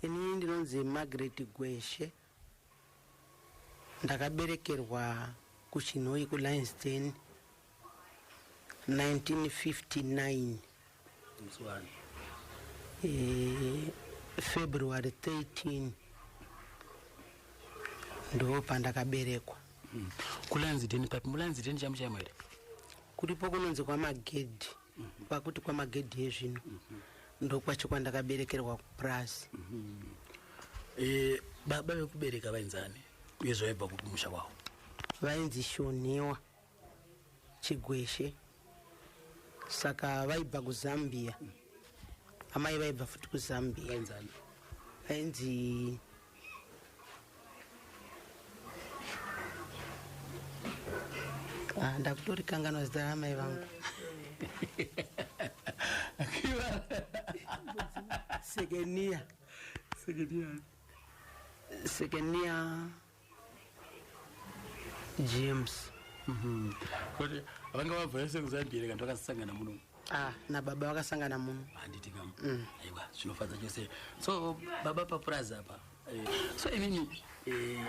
Ini ndinonzi Margaret Gweshe ndakaberekerwa kuChinhoyi kuLionsden 1959 eh, February 13 ndo pandakaberekwa mm. kuLionsden papi muLionsden chamuchaimo here kuripo kunonzi kwaMagedhi kwakuti kwamagedhi ezvino ndokwacho kwandakaberekerwa kupurazi eh, baba vekubereka vainzani uye zvaibva kupi musha wavo vainzi shoniwa chigweshe saka vaibva kuzambia amai vaibva futi kuzambia vainzi Ah, ndakutorikanganwa zita ramai vangu sekenia sekenia james mhm. vanga vabva yese kuzambiyere kanti vakasangana muno Ah, na baba vakasangana muno. Handiti kam. Mm. Aiwa, zvinofadza chose. So baba papurazi apa. Eh, so imimi eh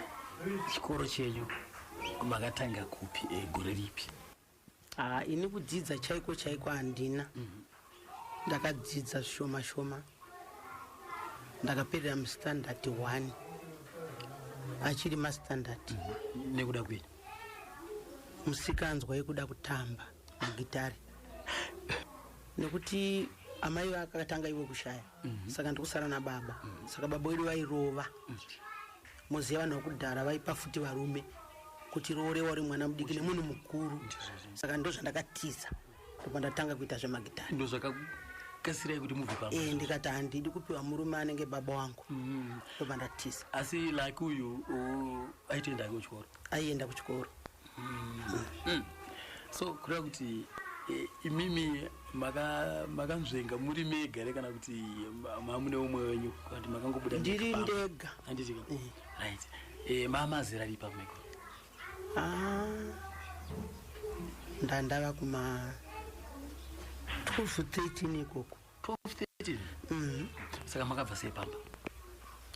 chikoro chenyu makatanga kupi eh, gore ripi? Ah, ini kudzidza chaiko chaiko handina. Mm -hmm. Ndakadzidza shoma shoma. Ndakaperera mu standard 1. Achiri ma standard. Mm -hmm. Nekuda kwini? Musikanzwa yekuda kutamba. mugitare nekuti amai vakatanga ivo kushaya mm -hmm. saka ndikusara nababa mm -hmm. saka baba wedu vairova mm -hmm. moziva vanhu vakudhara vaipa futi varume kuti roorewa uri mwana mudiki nemunhu mukuru mm -hmm. saka ndo zvandakatiza ndobva ndatanga kuita zvemagitare ndo zvakakasirai kuti mubve paa e, ndikati handidi kupiwa murume anenge baba wangu mm -hmm. ndobva ndatiza asi like uyu aitoenda kuchikoro aienda kuchikoro Mm. so kureva kuti eh, imimi maka- makanzvenga muri mega here kana kuti ma- mamune umwe wenyu kana kuti makangobuda Ndiri mega pamba? ndega. Handiti ka? right Eh, mama zera ripa meko Ah, ndandava kuma 12 13 ikoko 12:30 saka makabva sei pamba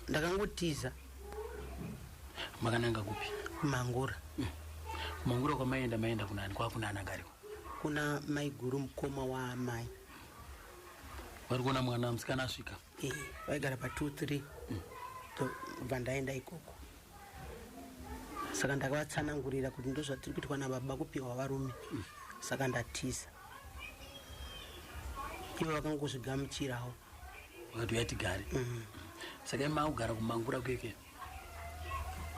ndakangotiza makananga kupi mangura mangura kwamaienda maienda kunani kwakuna anangariwa kuna maiguru mukoma waamai vari kuona mwana musikana asvika Eh, vaigara pa 2 3 ndobva ndaenda ikoko saka ndakavatsanangurira kuti ndozvatiri kuitwa nababa kupiwa varume saka ndatiza ivo vakangozvigamuchirawo vakati uya tigare mm. saka ima kugara kumangura kueke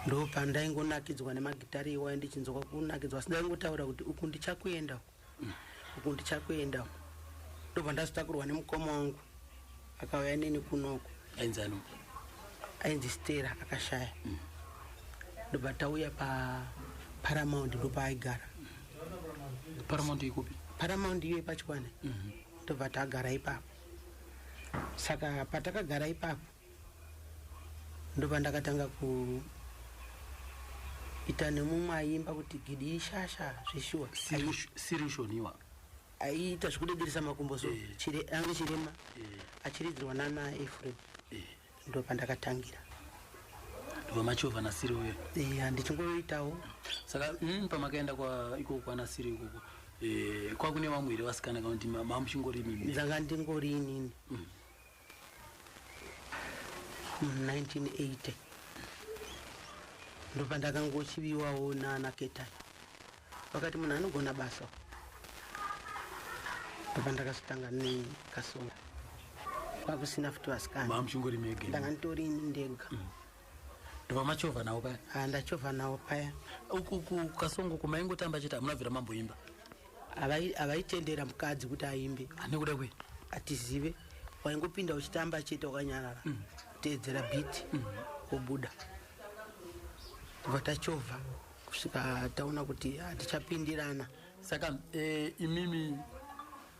ndopandaingonakidzwa nemagitari iwayo ndichinzwa kunakidzwa asi ndaingotaura kuti uku ndichakuenda mm. uku ndichakuenda ndobva ndazotakurwa nemukoma wangu akauya neni kunoko ainzi ano ainzi stera akashaya mm. ndobva tauya paparamount ndopaaigara paramount ikupi paramount iyo ipachikwane mhm. ndobva tagara ipapo saka patakagara ipapo ndobva ndakatanga ku ita nemumwe aimba kuti gidi ishasha zveshuwa sirishoniwa aiita zvekudegeresa makumbo so eh. chire, ange chirema eh. achiridzirwa nana efrem eh. ndo pandakatangira vamachovha nasiri uyo eh, handichingoitawo saka mm, pamakaenda ikoko kwanasiri ikoko eh, kwakune vamwe here vasikana kana kuti mamuchingori inini dzanga ndingori inini mm. 1980 ndopandakangochiviwawo nana ketai vakati munhu anogona basa ndopandakazotanga nekasonga kwakusina futi vasikanandanga nditori ini ndega mm. ndopamachovha nawo paya ah, ndachovha nawo paya ukukasongo kumaingotamba chete hamuna bvira mamboimba havaitendera mukadzi kuti aimbe anekuda kwe atizive waingopinda uchitamba chete wakanyarara mm. teedzera biti mm. kubuda kubva tachovha kusvika taona kuti hatichapindirana saka e, imimi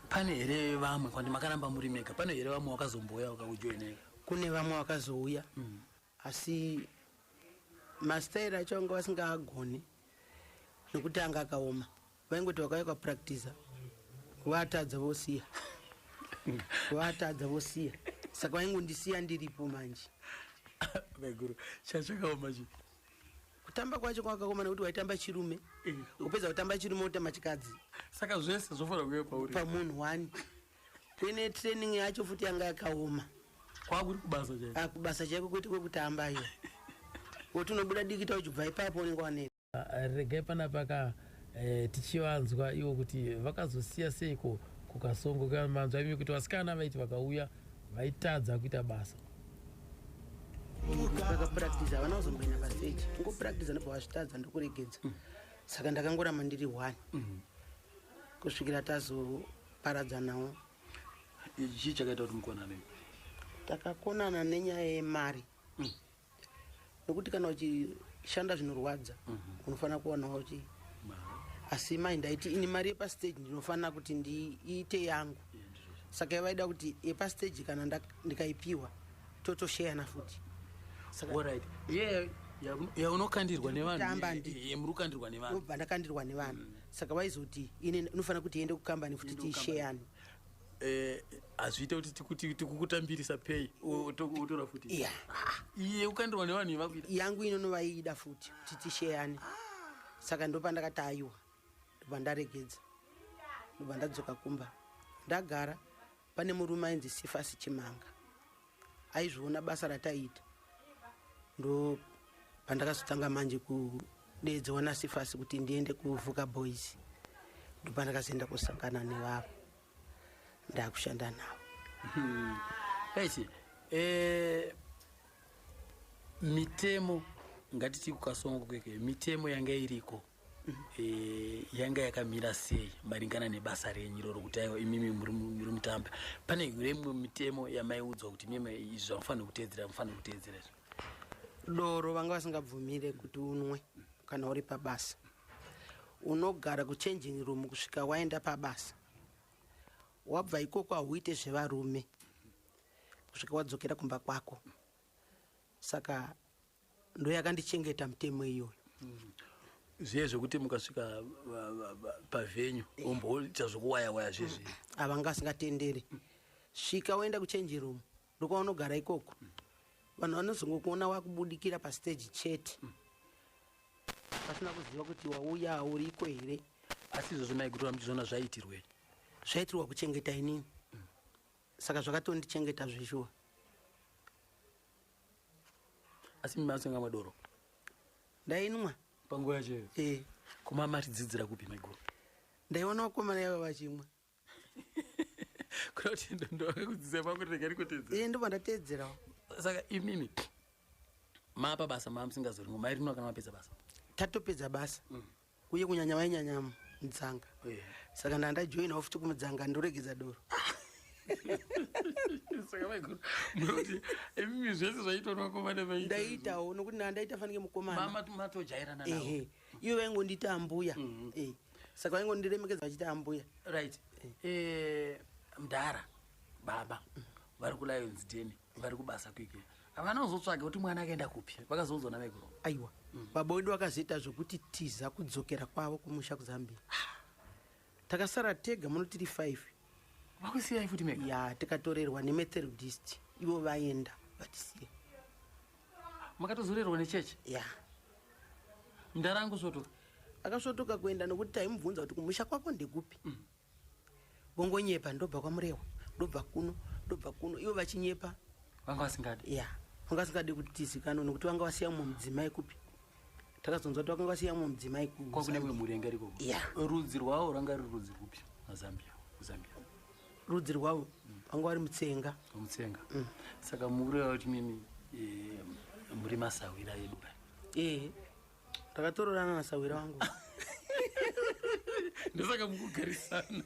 pane here vamwe kwandi makaramba muri mega pane here vamwe wakazombouya wakakujoineka kune vamwe wakazouya mm. asi mastairi acho vanga vasingaagoni nekuti anga akaoma vaingoti vakauya kwapractiza vatadza vosiya vatadza vosiya saka vaingondisiya ndiripo manje maiguru chaa chakaoma chi kutamba kwacho kwakakoma nekuti waitamba chirume eh. upedza kutamba chirume utamba chikadzi saka zvese zvofanira kuve pauri pamunhu wani Tene training yacho futi yanga yakaoma. Kwakuri kubasa chaiko. Ah kubasa chaiko kwete kwekutamba iyo. Woti unobuda dikita uchibva ipapo unenge wane. Ah, regai pana paka eh, tichivanzwa iwo kuti vakazosiya seiko kukasongo kamanzwa imi kuti vasikana vaiti vakauya vaitadza kuita basa vakapractice havana kuzomboenda paseji ngopractice ndobva vazvitadza ndokuregedza saka ndakangoramba ndiri one kusvikira tazo paradzanawo chii chakaita kuti mukonane takakonana nenyaya yemari mm. nokuti kana uchishanda zvinorwadza mm -hmm. unofanira kuwanawo chi asi mai ndaiti ini mari yepastage ndinofanira kuti ndiite yangu saka yavaida kuti yepastage kana ndikaipiwa totosheyana futi yaunokandirwa nevanhu yamuri kukandirwa nevanhu ndobva ndakandirwa nevanhu mm. saka vaizoti ine inofanira kuti iende kukambani futi tiisheyani eh, hazviite kuti tikukutambirisa pay otora futi iye ah, ukandirwa nevanhu vakuita yangu ino novaiida futi kuti tisheyani saka ndopandakati aiwa ndobva ndaregedza ndobva ndadzoka kumba ndagara pane murume ainzi sifasi chimanga aizviona basa rataiita ndo pandakazotanga manje kudeedzewa nasifasi kuti ndiende kuvhuka boys ndo pandakazoenda kusangana nevavo ndakushanda navo hmm. esi eh, mitemo ngatiti kukasongo kweke mitemo yanga iriko Eh, yanga yakamira sei maringana nebasa renyu iroro kuti aiwa imimi muri mutambi pane hure imwe mitemo yamaiudzwa kuti mimi izvi zvamufanira kuteedzera mufanira kuteedzera izvo doro vanga vasingabvumire kuti unwe kana uri pabasa unogara kuchanging room kusvika waenda pabasa wabva ikoko hauite zvevarume kusvika wadzokera kumba kwako saka ndoyakandichengeta mutemo iyoyo mm. zviye zvekuti mukasvika pavenyu omboita zvokuwaya waya zvezvi mm. ava nga asingatenderi svika woenda kuchange room ndokwaunogara ikoko mm. vanhu vanozongokuona wakubudikira pastage chete mm. pasina kuziva kuti wauya auriko here asi izvozvo maigutora muchizona zvaitirwei zvaitirwa kuchengeta inini saka zvakatondichengeta zveshuwa asi mimi masenga madoro ndainwa panguva yacho iyo e eh. koma matidzidzira kupi maiguru ndaiona vakomana yavo vachimwa kuda kuti ndovakakudzidzira pangu rega rikutedzera e eh, ndobva ndateedzerawo saka imimi mapa basa maamusingazoringo mairinoa kana mapedza basa tatopedza basa mm. uye kunyanya vainyanya mudzanga yeah. saka ndaa ndajoina ofuti kumudzanga ndoregedza doro saka vaiguru munoti imimi zvese zvaitwa navakomana vaita ndaitawo nokuti ndaa ndaita fanike mukomana matojairana ehe ivo vaingondiita ambuya mhm. eh, saka vaingondiremekedza vachiita ambuya right eh. Eh, mdara baba vari kulions deni vari kubasa kwike havana kuzotsvage kuti mwana akaenda kupi vakazoudzwa navekuro aiwa mm. baba wedu vakazoita zvekuti tiza kudzokera kwavo kumusha kuzambia ah. takasara tega muno tiri five vakusiyai futi mega ya tikatorerwa nemetherudist ivo vaenda vatisiya makatozorerwa nechechi ya mdara angu svotoka akasvotoka kuenda nokuti taimubvunza kuti kumusha kwako ndekupi mm. vongonyepa ndobva kwamurehwa ndobva kuno ndobva kuno ivo vachinyepa vanga vasingadi ya vanga vasingadi kuti tizikanwe nokuti vanga vasiya mumwe mudzimai kupi takazonzwa kuti vakanga vasiya mumwe mudzimai kwakune imwe mhuri yanga iriko ya rudzi rwavo rwanga ruri rudzi rwupi mazambia zambia rudzi rwavo mm. vanga vari mutsenga mutsenga mm. saka mukureva kuti mimi eh, muri masahwira edu ka ee eh. takatororana nasahwira wangu ndosaka mukugarisana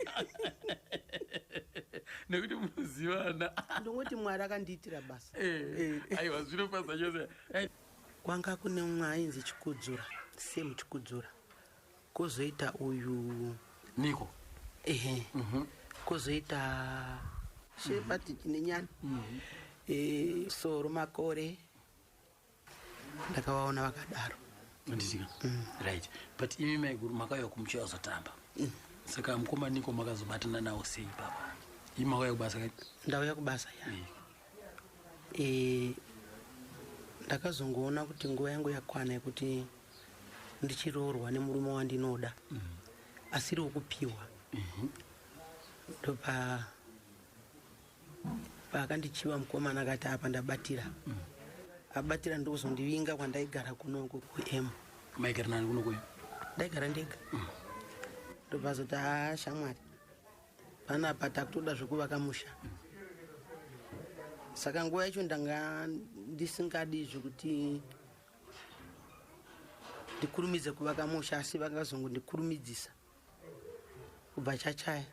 nekuti munozivana ndongoti mwari akandiitira basa eh, eh. aiwa zvinofasa chose eh. kwanga kune umwe ainzi chikudzura same chikudzura kozoita uyu niko ehe mhm. kozoita shepati mhm. chinenyana mhm. soro makore ndakavaona vakadaro anditika mm. right but imi maiguru makauya kumucho azotamba mm. saka mukoma niko makazobatana nawo sei papa imi makauya kubasa kai ndauya kubasa ya mm. e, ndakazongoona kuti nguva yangu yakwana yekuti ndichiroorwa nemurume wandinoda mm. asiri wekupiwa mm -hmm. ndopa paakandichiva mukomana akati apa ndabatira mm. abatira ndokuzondivinga kwandaigara kuno uko kuem maigara nani kuno kuem ndaigara ndega mm. ndobvazoti haa shamwari panapa takutoda zvekuvaka musha mm. saka nguva yacho ndanga ndisingadi zvekuti ndikurumidze kuvaka musha asi vakazongondikurumidzisa kubva chachaya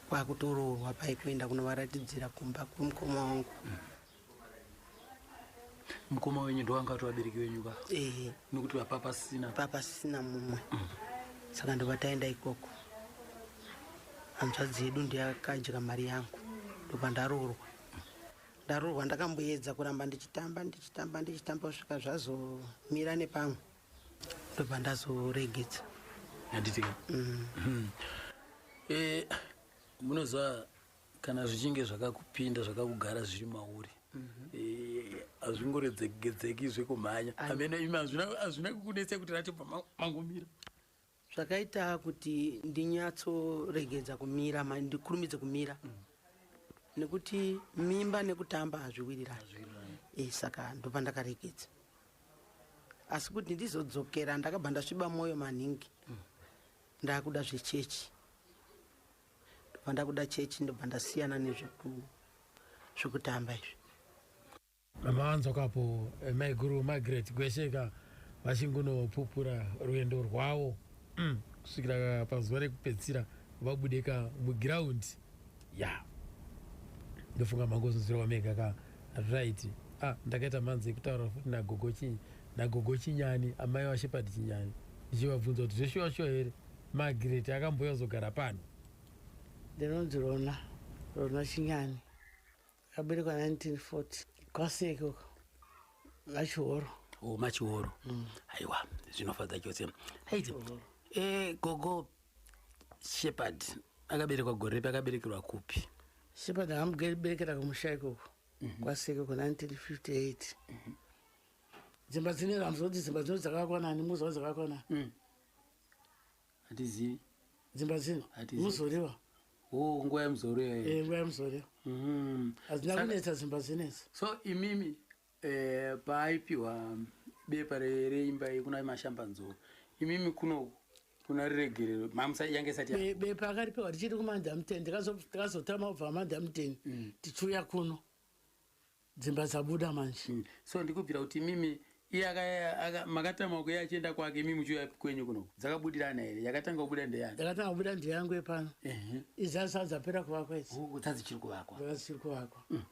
kwakutoroorwa pai kuenda kunovaratidzira kumba kwemukoma wangu mm. mukoma wenyu ndovanga kuti vabereki venyu ka ehe nekuti vapa pasina pa pasina mumwe mm. saka ndova taenda ikoko hanzvadzi yedu ndiyakadya mari yangu ndobva ndaroorwa mm. ndaroorwa ndakamboedza kuramba ndichitamba ndichitamba ndichitamba kusvika zvazomira nepamwe ndobva ndazoregedza handitika mm. hmm. eh, munoziva kana zvichinge zvakakupinda zvakakugara zviri mauri mhm. eh, hazvingoredzegedzeki zvekumhanya amene imi hazvina kukunetsa kuti rati pamangomira zvakaita kuti ndinyatsoregedza kumira ma- ndikurumidze kumira nekuti mimba nekutamba hazviwirirani Eh, saka ndobva ndakaregedza asi kuti ndizodzokera ndakabva ndasviba mwoyo maningi ndakuda zvechechi ndobva ndakuda chechi ndobva ndasiyana nezveku- zvekutamba izvi Maanzwa kapo eh, maiguru Margaret Gwesheka vachingunopupura rwendo rwavo mm, kusvikira pazuva rekupedzisira vabudeka mugiraundi ya yeah. ndofunga mangozunzirwa mega ka right ah, ndakaita mhanzi yekutaura futi nagogo chii nagogo chinyani amai vashepati chinyani ndichivabvunza kuti zveshuwa shuwa here magireti akamboya zogara pano ndinonzi rona rona chinyani Akaberekwa 1940 kwase ikoko machihoro. Oh, machihoro. Mm. Aiwa, zvinofadza chose. Haiti. Eh, gogo Shepherd akaberekwa gore repi akaberekerwa kupi? Shepherd akamuberekera kumusha ikoko. Mm -hmm. Kwase ikoko 1958. Mm -hmm dzimba dzine ramuzoti dzimba dzino dzakakwana ani muzawo dzakakwana mm. Hatizivi. Dzimba dzino. Hatizivi. Muzoriwa. Oh, nguva yemuzoriwa. Eh, nguva yemuzoriwa. Mhm. Hazina kunetsa dzimba dzinetsa. So imimi eh paipiwa bepa reimba yekuna mashamba nzoro. Imimi kuno kuna riregerero mamusa yange sati ya. Bepa akaripiwa richiri kumanda mutende. Kazo kazo tama ubva manda mutende. Mm. Tichuya kuno. Dzimba dzabuda manje. Mm. So ndikubvira kuti mimi iye makatama kuye achienda kwake imi muchiuya kwenyu kuno dzakabudirana here yakatanga kubuda ndeyani yakatanga kubuda ndeyangu yepano idzaa saa dzapera kuvakwa idzi dzaa dzichiri kuvakwa dzaa dzichiri kuvakwa mm.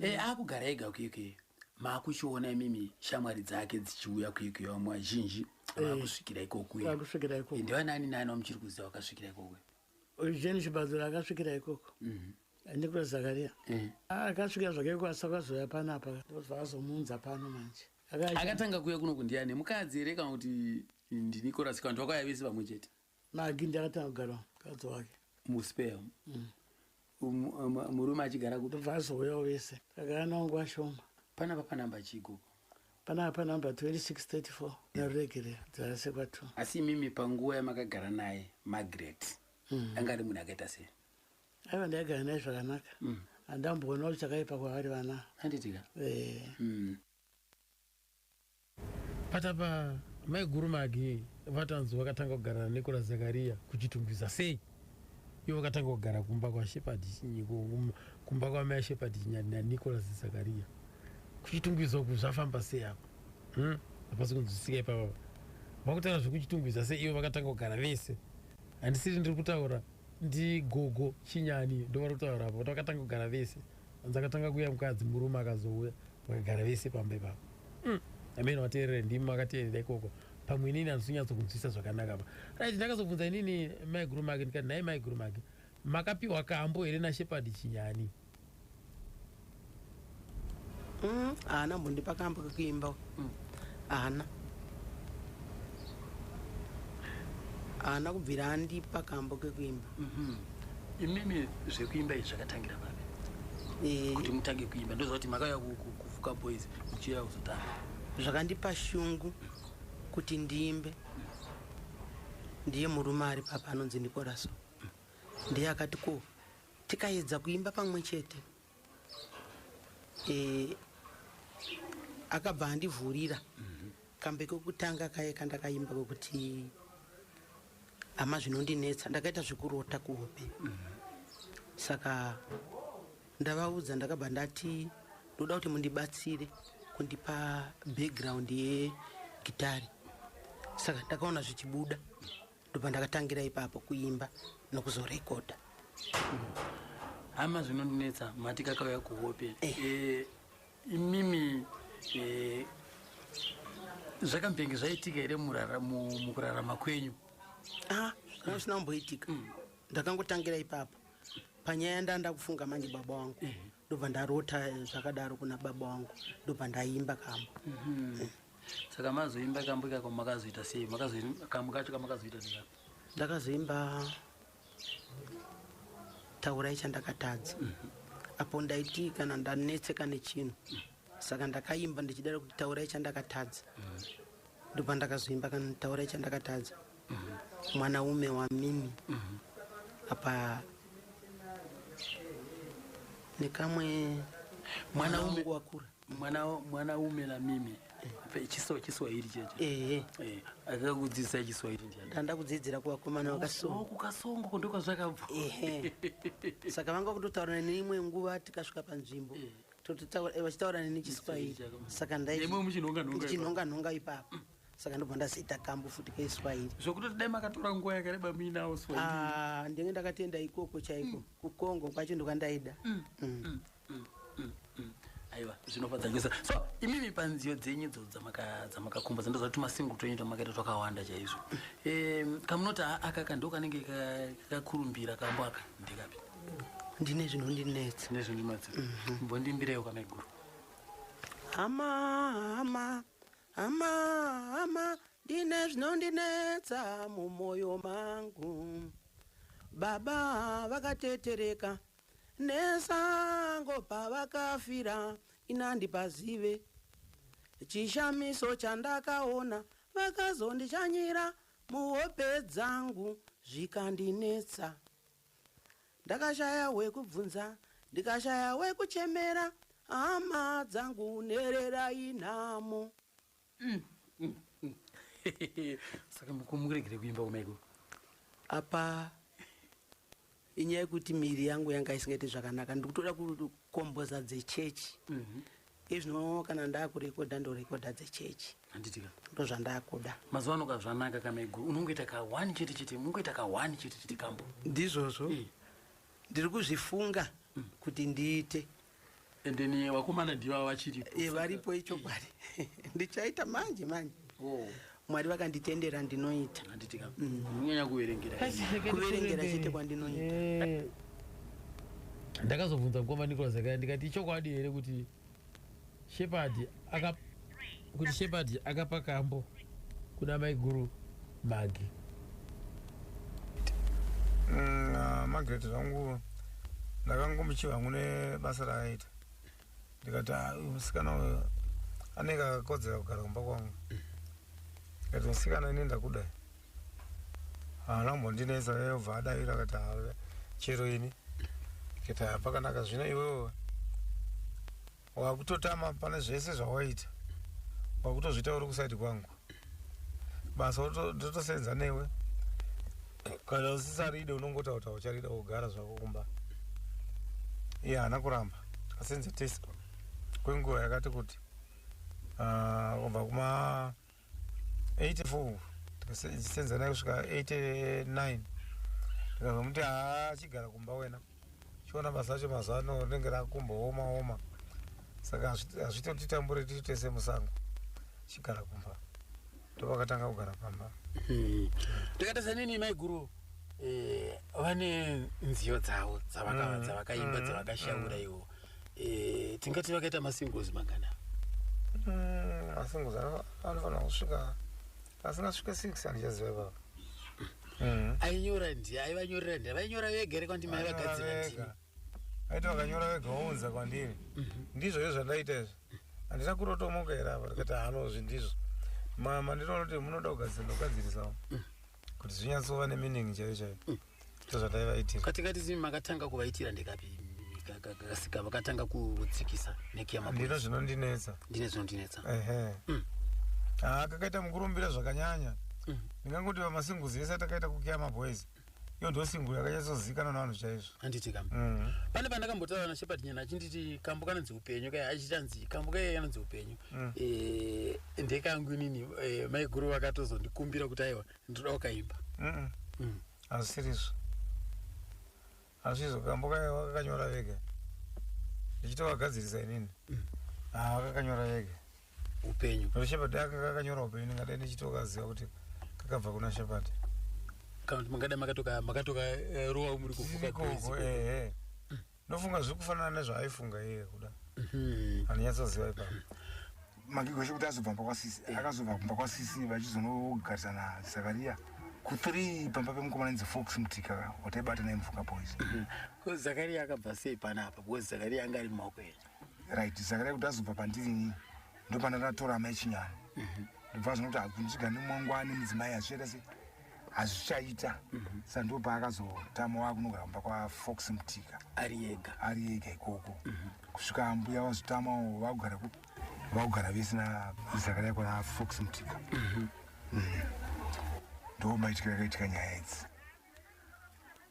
eh, akugara ega kuyokuyo maakuchiona imimi shamwari dzake dzichiuya kuyokuyo vamwe vazhinji vakusvikira eh. ikokuyo vakusvikira ikoko eh, ndevanaani nani vamuchiri kuziva vakasvikira ikoko jeni chibadzura akasvikira ikoko mhm. ndikura zakaria eh. ah, akasvika zvake kwasa kwazoya panapa ndikuti vakazomuunza pano manje akatanga kuya kuno kundiani mukadzi here kana kuti ndinikorasi kana kuti vakauya vese vamwe chete magi ndakatanga kugara mukadzi wake muspea mm. um, um, murume achigara kuti ndobva azouyawo vese tagara nawo nguva shoma panapa panamba chigogo panapa panamba 2634 naruregerera dzarasekwa t asi imimi panguva yamakagara naye magret mm. anga ari munhu akaita sei aiva ndaigara naye zvakanaka mm. andamboona kuti chakaipa kwavari vana handitika eh. mm. patapa maiguru magi vatanzi vakatanga kugarana nekura zakariya kuchitungwiza sei ivo vakatanga kugara kumba kwashepard kumba kwamai ashepard chinyadi nanicolas zakariya kuchitungwiza uku zvafamba sei apo hmm? hapasi kunzwisika ipapa vakutaura zvekuchitungwiza sei ivo vakatanga kugara vese handisiri ndiri kutaura ndigogo chinyani ndovari kutaura apa kuti vakatanga kugara vese anzi akatanga kuuya mukadzi murume akazouya vakagara vese pamba ipapa mm. amene vateerere ndimi makatienda ikoko pamwe inini handisinyatso kunzwisa zvakanaka pa right ndakazobvunza inini maiguru make ndikati nhai maiguru make makapiwa kambo here nashepard chinyani Mm, haana mbondipa kambo kekuimba mm. haana haana kubvira andipa kambo kekuimba mm-hmm. imimi zvekuimba izvi zvakatangira papi eh. kuti mutange kuimba ndoziva kuti makauya kufuka boys muchiuya kuzotanga zvakandipa shungu kuti ndiimbe ndiye murume ari papa anonzi ndikoraso ndiye akati ko tikaedza kuimba pamwe chete e, akabva andivhurira mm -hmm. kambe kokutanga kaye kandakaimba kokuti hama zvinondinetsa ndakaita zvekurota kuhope mm -hmm. saka ndavaudza ndakabva ndati ndoda kuti mundibatsire kundipa background yegitari saka ndakaona zvichibuda mm -hmm. ndopandakatangira ipapo kuimba nokuzorekodha hama zvinondinetsa mati kakauya kuhope eh. Eh, imimi eh, zvakambenge zvaitika here mukurarama kwenyu ah, kana zvisina kumboitika mm. ndakangotangira ipapo panyaya ndaa ndakufunga manje baba wangu ndobva ndarota zvakadaro kuna baba wangu ndobva ndaimba kamba mhm. saka mazoimba kambo ikako makazoita sei kambo kacho kamakazoita neka ndakazoimba taurai chandakatadza mhm. apo ndaiti kana ndanetseka nechinhu mhm. saka ndakaimba ndichidara kuti taurai chandakatadza mhm. ndopa ndakazoimba kana taurai chandakatadza mwanaume wamimi apa nekamwe mwanaume wakura mwana mwana umela mimi chiso chiswahili cheche ehe eh akakudzidzisa chiswahili ndiani ndanda kudzidzira kwa komana wakasongo ku kasongo ko ndoka zvakabva ehe saka vanga kutotaura ne imwe nguva tikasvika pa nzvimbo eh. tototaura eh, vachitaura ne chiswahili saka ndai imwe muchinonga nonga muchinonga nonga ipapo mm. saka ndobva ndaziita kambo futi ke swahili zvokuti dai makatora nguva yakareba muinawo swahili ah ndenge ndakatenda ikoko chaiko mm. ku Congo kwacho ndokandaida mm. mm. mm. mm, mm, mm. aiwa zvinofadzangisa so imimi panziyo dzenyu dzo dzamakakumba dzandoza kuti masingle twenyu twamakaita twakawanda chaizvo um, kamunoti akaka ndo kanenge kakakurumbira kambo aka ndikapi ndine zvinondinetsa ndine zvinondinetsa mhm. mbondimbireyo kamaiguru hama hama hama hama ndine zvinondinetsa mumwoyo mangu baba vakatetereka Nesango pavakafira inandi pazive chishamiso chandakaona vakazondichanyira muhope dzangu zvikandinetsa ndakashaya wekubvunza ndikashaya wekuchemera hama dzangu nherera inhamo Mm, mm, mm. saka mukumuregere kuimba kumaiko apa inyaya yekuti miri yangu yanga isingaiti zvakanaka ndikutoda kukomboza dzechechi mm -hmm. izvino kana ndakurekodha ndorekodha dzechechi handitika ndo zvandakuda mazuva ano ka zvanaka kamego unongoita ka one chete chete unongoita ka one chete chete kambo ndizvozvo eh. ndiri kuzvifunga mm. kuti ndiite and then eh, vakomana ndivava vachiripo eh, varipo ichokwadi ndichaita manje manje oh. mwari vakanditendera ndinoita anditikanyanya mm. kuverengera kuverengera chete kwandinoita eh. ndakazobvunza mukoma nicolas akaya ndikati ichokwadi here kuti Shepherd aka kuti Shepherd akapa kambo kuna maiguru Magi. Mm, ah, Margaret zvangu ndakangomuchiva hangu nebasa raakaita ndikati ah, uyu musikana uyu anenge akakodzera kugara kumba kwangu ndikati musikana ini ndakuda haana kumbondinetsa yobva adavira akati ah, chero ini ndikati ah, pakanaka zvino iwewe wakutotama pane zvese zvawaita wakutozviita uri kusaidi kwangu basa ndotosenza newe kana usisaride unongotakuta ucharida kugara zvako kumba iye haana kuramba asenze test kwenguva yakati kuti ah, kubva kuma 84 tikasenza naye kusvika 89 ndikabva muti haa chigara kumba wena chiona basa acho mazuva ano rinenge rakumbooma oma saka hazvitotitambure tiri tese musango chigara kumba ndopakatanga kugara pamba hmm. takatarisa nini maiguru eh, vane nziyo dzavo dzavaka- Mm, dzavakaimba mm, dzavakashaura mm. ivo Eh, tingati vakaita masingles mangana Mm, masingozi ano- anofanira kusvika asingasvike six andichaziva ipapa Mm. ainyora ndi aivanyorera ndi vainyora vega here kwandima aivagadzira ndimi Vega. aiti vakanyora vega vounza kwandiri ndizvo izvo zvandaita izvi handina kurotomoka here apa ndikati hanozvi ndizvo mama ndinoona kuti munoda kugadzira ndokugadzirisawo kuti zvinyatsova nemeaning chaiyo chaiyo mm. tozvataivaitira katingati zimi makatanga kuvaitira ndekapi kasika vakatanga kutsikisa nekiyamandino zvinondinetsa ndine zvinondinetsa ehe mm. haa ah, kakaita mukurumbira zvakanyanya mm. ndingangoti vamasinguzi ese atakaita kukiya maboys iyo ndo singu yakanyatsozivikanwa navanhu chaizvo anditi kambo mm. pane pandakambotaura nashepard nyana achinditi kambo kanonzi upenyu kaya achichanzi kambo kaya kanonzi upenyu mm. eh, ndeka yangu inini eh, maiguru vakatozondikumbira kuti aiwa ndinoda ukaimba mm. mm. hazvisirizvo hazvizvo kambo kakanyora vega ndichitovagadzirisa inini mm. ah, kakanyora vega upenyu shepard aka kakanyora upenyu ndingadai ndichitokaziva kuti kakabva kuna shepard kana kuti mangada makatoka makatoka eh, rowa muri kufuka ehe eh, eh. ndofunga zviri kufanana nezvaaifunga iye kuda mhm. anonyatsoziva ipapo magigo chekuti azobva mba kwasisi eh. akazobva kumba kwasisi vachizonogarisana zakaria kuthree pamba pemukomana inzi fox mtika wataibata naye mvuka boys mhm. ko zakaria akabva sei panapa because zakaria anga ari mumaoko edu right zakaria kuti azobva pandiri inini ndopanda ndatora amai chinyani mhm. ndobva zvinokuti hakunzviga nemwangwani mudzimai hazviita sei hazvichaita mhm. sandiwo paakazotama wakunogara kumba kwafox mutika ari ega ari ega ikoko mhm. kusvika ambuya vazotamawo vakugara kupi vakugara vese nazakadai kwana fox mutika mhm. mm. ndo maitika yakaitika nyaya idzi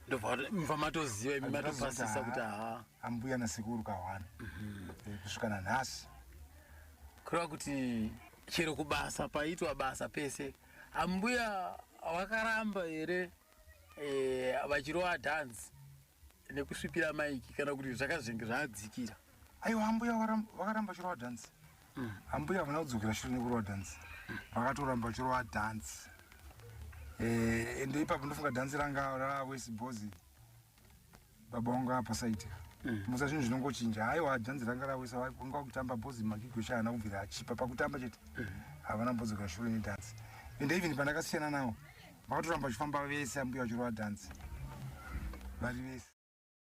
ndobva matoziva imi matopasisa kuti ha ambuya nasekuru kahwana eh, kusvika nanhasi kureva kuti chero kubasa paitwa basa pese Ambuya vakaramba here eh, vachirova dhanzi nekusvipira maiki kana kuti zvakazenge zvaadzikira? Aiwa ambuya vakaramba vachirova dhanzi. Mm. Ambuya havana kudzokera shure nekurova dhanzi. Mm. Vakatoramba vachirova dhanzi. Eh, ende ipapo ndofunga dhanzi ranga rava wesi bhozi. baba wangu apasaita mm. musa zvinhu zvinongochinja haiwa janzi ranga rawisa vanga vakutamba bozi magigwesha haana kubvira achipa pakutamba chete mm. havana mbodzoka shure nedhansi and even pandakasiyana nawo vakatoramba vachifamba vese ambuya vachirova dhansi vari vese